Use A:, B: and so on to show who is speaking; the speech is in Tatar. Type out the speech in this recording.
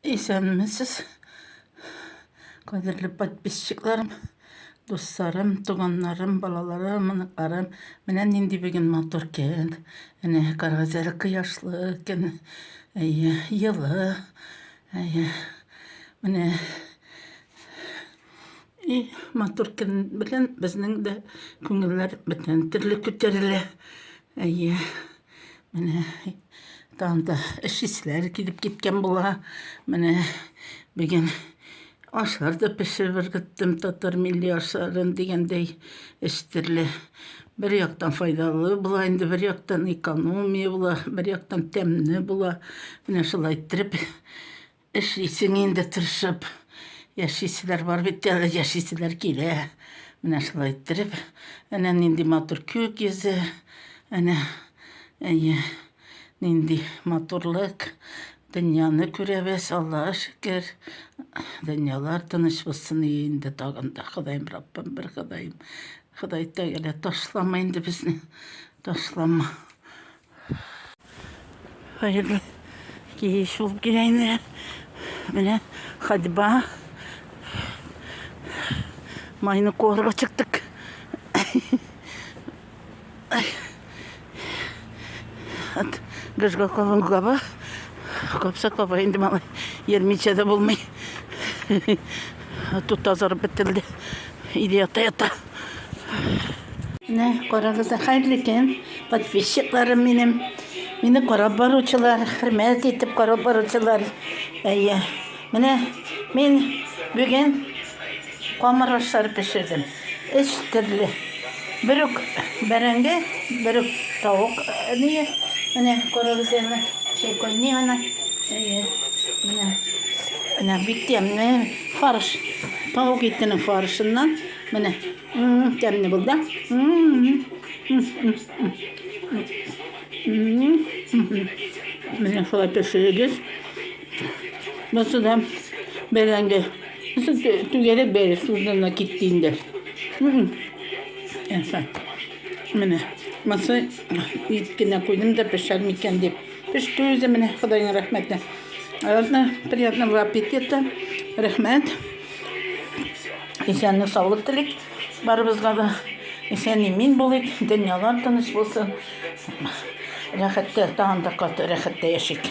A: Исәнмесез, кадерле подписчикларым, дусларым, туганнарым, балаларым, оныкларым. Менә нинди бүген матур көн. Әнә каргазәле кояшлы көн. Әйе, йылы. Әйе. Менә и матур көн белән безнең дә күңелләр бөтен төрле күтәрелә. Әйе. Менә танда эшчеләр килеп киткән була. Менә бүген ашлар да пешереп ыргыттым, татар милли ашларын дигәндәй эш төрле. Бер яктан файдалы була, инде бер яктан экономия була, бер яктан тәмле була. Менә шулай иттереп Эшлисең инде тырышып. Яшиселәр бар бит әле, яшиселәр килә. Менә шулай иттереп. Әнә нинди матур күк йөзе. Әнә, әйе, нинди матурлык. Дөньяны күрәбез, Аллага шөкер. Дөньялар тыныч булсын инде тагын да. Ходаем Раббым, бер Ходаем. Ходай Тәгалә ташлама инде безне. Ташлама. Хәерле кич булып килә инде. Менә ходьба. Майны куарга чыктык. От Гыжга Колонгава. Капса каба инде малай. Ермичә дә булмый. Тут тазарып бетерелде. Иде ята-ята. Менә карагыз, хәерле көн, подписчикларым минем. Мине карап баручылар, хөрмәт итеп карап баручылар. Әйе. Менә мин бүген камыр ашлар пешердем. Өч төрле. Бер үк бәрәңге, бер үк тавык ние. Менә карагыз әле, шәйкәнни ана. Әйе. Менә. Менә бик тәмле фарш. Тавык итенең фаршыннан Менә. Тәмле булды. Менә шулай пешерегез. Монсы да бәрәңге. Түгәрәк бәрәк судына китте инде. Менә. Монсы ит кенә куйдым да пешәр микән дип. Пеште үзе менә, Ходайның рәхмәте. Ладно, приятного аппетита. Рәхмәт. Исәнлек, саулык телик. Барыбызга да исән имин булыйк. Дөньялар тыныч булсын. Рәхәттә, тагын да каты рәхәттә яшик.